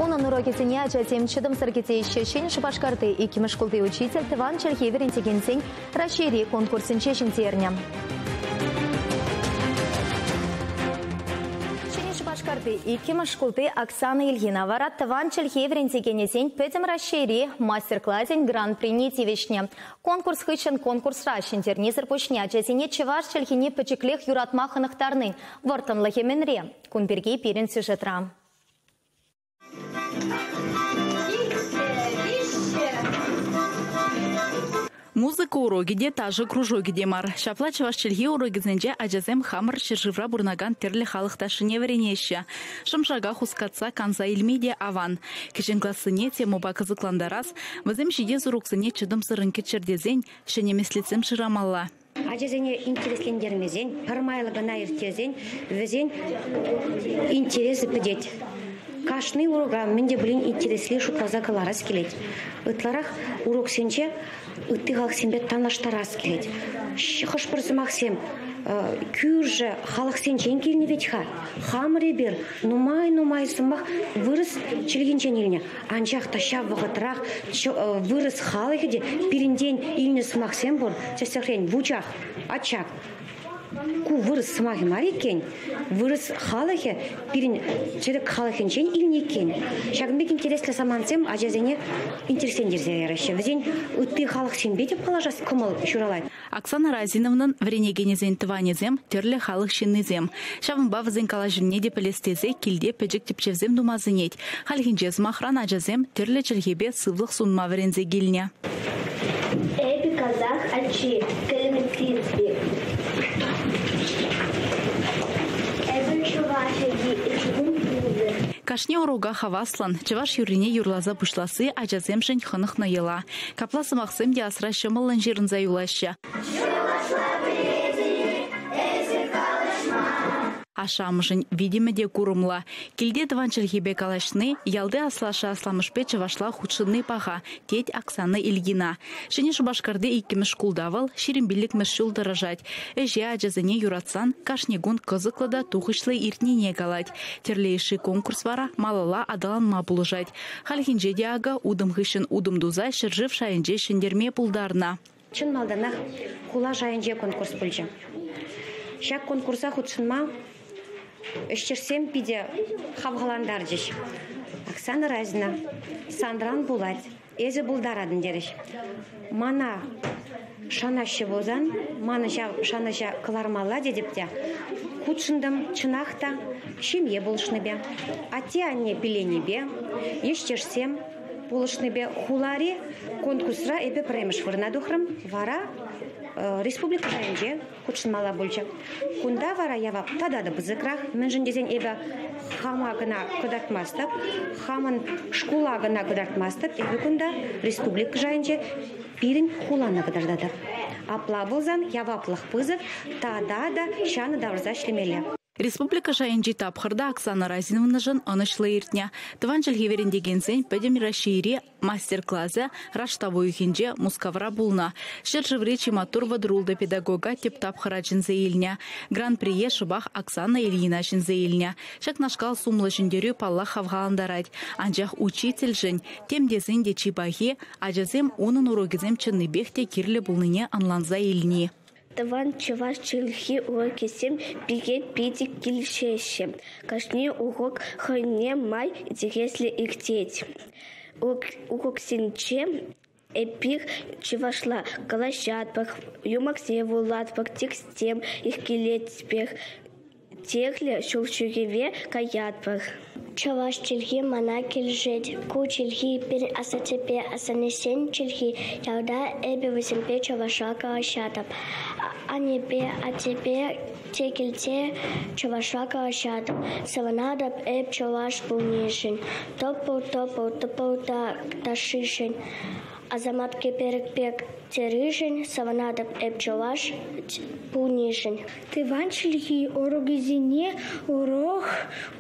Унӑн урокӗсене ачасем чӑтӑмсӑр кӗтеҫҫӗ. Ҫӗнӗ Шупашкарти иккӗмӗш шкулти учитель тӑван чӗлхе вӗрентекенсен Раҫҫейри конкурсӗнче ҫӗнтернӗ. Ҫӗнӗ Шупашкарти иккӗмӗш шкулти Оксана Ильина вара тӑван чӗлхе вӗрентекенӗсен Пӗтӗм Раҫҫейри мастер-класӗн гран-прине тивӗҫнӗ. Конкурс хыҫҫӑн конкурсра ҫӗнтернисӗр пуҫне ачасене чӑваш чӗлхине пӗчӗклех юратма хӑнӑхтарнин вӑрттӑнлӑхӗ мӗнре? Кун пирки пирӗн сюжетра. Музыка урокӗ те, ташӑ кружокӗ те мар. Ҫапла чӑваш чӗлхи урокӗсенче ачасем хамӑр ҫӗршывра пурӑнакан тӗрлӗ халӑх ташшине вӗренеҫҫӗ. Шӑм-шака хускатса канса илме те аван. Кӗҫӗн классене темӑпа кӑсӑклантарас, вӗсем ҫити сурӑхсене чӑтӑмсӑррӑн кӗтчӗр тесен ҫӗнӗ меслетсем шырамалла. ачасене интереслентермесен, пӗр майлӑ кӑна ирттерсен вӗсен интересӗ пӗтет. Кашни урока мӗн те пулин интересли шутласа кӑларас килет. Ытларах уроксенче ытти халӑхсемпе танлаштарас килет. Хӑш-пӗр сӑмахсем кӳршӗ халӑхсенчен килнӗ вӗт-ха. Хамӑр эпир нумай-нумай сӑмах вырӑс чӗлхинчен илнӗ. Анчах та ҫав вӑхӑтрах вырӑс халӑхӗ те пирӗнтен илнӗ сӑмахсем пур, тӗслӗхрен, вучах, ачак. Ку вырӑс сӑмахӗ мар иккен. Вырӑс халӑхӗ пирӗн тӗрек халӑхӗнчен илнӗ иккен. Ҫакӑн пек интереслӗ самантсем ачасене интересрен ерсе яраҫҫӗ. Вӗсен ытти халӑхсемпе те паллашас кӑмӑл ҫуралать. Оксана Разиновнан вӗренекенӗсен тӑванӗсем тӗрлӗ халӑх ҫыннисем. Ҫавӑнпа вӗсен калаҫӑвне те пӗлес тесе килте пӗчӗк тӗпчевсем тума сӗнет. Хальхинче, сӑмахран, ачасем тӗрлӗ чӗлхепе сывлӑх сунма вӗренсе килнӗ. Эпӗ казах ачи, кельмтинти. Эпӗ чӑваш ачи, кашни урока хаваслӑн, чӑваш юррине юрласа пуҫласси ачасемшӗн хӑнӑхнӑ йӑла. Капла сӑмахсем те асра ҫӑмӑллӑн ҫырӑнса юлаҫҫӗ. Ашшӗ-амӑшӗн витӗмӗ те курӑмлӑ. Килте тӑван чӗлхепе калаҫни, ялти аслашшӗ-асламӑшпе чӑвашла хутшӑнни паха, тет Оксана Ильина. Ҫӗнӗ Шупашкарти иккӗмӗш шкулта вӑл ҫирӗм пиллӗкмӗш ҫул тӑрӑшать. Ӗҫе ачасене юратсан кашни кун кӑсӑклӑ та тухӑҫлӑ иртнине калать. Тӗрлӗ йышши конкурс вара малалла аталанма пулӑшать. Хальхинче те акӑ утӑм хыҫҫӑн утӑм туса ҫӗршыв шайӗнче ҫӗнтерме пултарнӑ. Чӑн малтанах хула шайӗнче конкурс пулчӗ. Ҫак конкурса хутшӑнма ӗҫтешсем питӗ хавхалантарчӗҫ. Оксана Разина, санран пулать, эсӗ пултаратӑн терӗҫ. Мана шанаҫҫӗ пулсан, манӑн ҫав шанӑҫа кӑлармалла тетӗп те хутшӑнтӑм. Чӑнах та, ҫемье пулӑшнипе, атте-анне пиленипе, ӗҫтешсем пулӑшнипе хулари конкурсра эпӗ пӗрремӗш вырӑна тухрӑм. Вара республика шайӗнче хутшӑнмалла пулчӗ. Кунта вара явап тата та пысӑкрах, мӗншӗн тесен эпӗ хама кӑна кӑтартмастӑп, хамӑн шкула кӑна кӑтартмастӑп. Эпӗ кунта республика шайӗнче пирӗн хулана кӑтартатӑп. Апла пулсан яваплӑх пысӑк тата та ҫанӑ тавӑрса ӗҫлемелле. Республика шайӗнчи тапхӑрта Оксана Разиновнӑшӑн ӑнӑҫлӑ иртнӗ. Тӑван чӗлхе вӗрентекенсен Пӗтӗм Раҫҫейри мастер-класӗ раштав уйӑхӗнче Мускавра пулнӑ. Ҫӗршыври чи маттур вӑтӑрултӑ педагога тӗп тапхӑра чӗнсе илнӗ. Гран-прие шӑпах Оксана Ильина ҫӗнсе илнӗ. Ҫакнашкал сумлӑ ҫӗнтерӳ паллах хавхалантарать. Анчах учительшӗн, тем тесен те чи пахи, ачасем унӑн урокӗсем чӑннипех те кирлӗ пулнине ӑнланса илни. Тӑван чӑваш чӗлхи урокӗсем пире питӗ килӗшеҫҫӗ. Кашни урок хӑйне май интереслӗ иртет. Уроксенче эпир чӑвашла калаҫатпӑр, юмахсем вулатпӑр, текстсем йӗркелетпӗр. Техлӗ ҫул ҫӳреве каятпӑр. Чӑваш чӗлхи мана килӗшет. Ку чӗлхи пирӗн асаттепе асаннесен чӗлхи. Ялта эпӗ вӗсемпе чӑваша калаҫатӑп. Аннепе, аттепе те килте чӑвашла калаҫатӑп. Савӑнатӑп эп чӑваш пулнишӗн. Тӑпӑл-тӑпӑл тӑпӑл та ташшишӗн. Асамат кӗперӗк пек терӗшӗн савӑнатӑп эп чӑваш пулнишӗн. Тӑван чӗлхе урокӗсене урок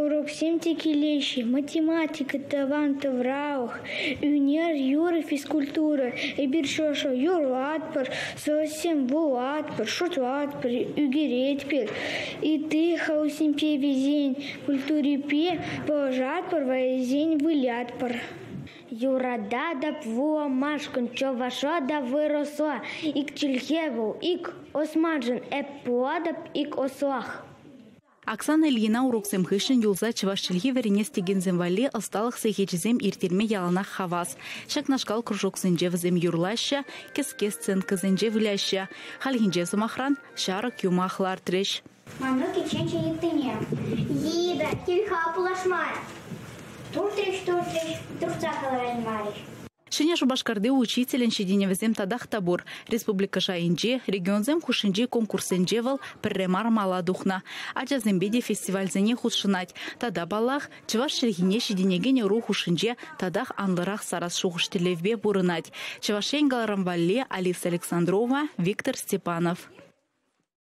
уроксем те килеҫҫӗ: математика, тӑван тавралӑх, ӳнер, юрӑ, физкультура. Эпир шӑшӑ юрлатпӑр, сӑсем вулатпӑр, шутлатпӑр, ӳкеретпӗр. Ытти халӑхсемпе вӗсен культурипе паллашатпӑр, вӗсен вылятпӑр. Юрататӑп вуламашкӑн, чӑваша та вырӑсла ик чӗлхе вӑл, ик османшӑн, эп пулатӑп ик ӑслах. Оксана Ильина уроксем хыҫҫӑн юлса чӑваш чӗлхи вӗренес текенсем валли ӑсталӑх сехечӗсем ирттерме яланах хавас. Ҫакнашкал кружоксенче вӗсем юрлаҫҫӗ, кӗске сценкӑсенче выляҫҫӗ. Хальхинче, сӑмахран, ҫарӑк юмах лартрӗҫ. Манран кичченҫӗ йыттине. Лида, тин-ха пулашмарӗ. Туртрӗҫ-туртрӗҫ, туртса кӑлараймарӗҫ. Ҫӗнӗ Шупашкарти учителӗн ҫитӗнӗвӗсем татах та пур. Республика шайӗнче, регионсем хушшинчи конкурссенче вӑл пӗрре мар мала тухнӑ. Ачасемпе те фестивальсене хутшӑнать. Тата, паллах, чӑваш чӗлхине ҫитӗнекен ӑру хушшинче татах анлӑрах сарас шухӑш-тӗллевпе пурӑнать Чӑваш Ен каларӑм валли Алиса Александрова, Виктор Степанов.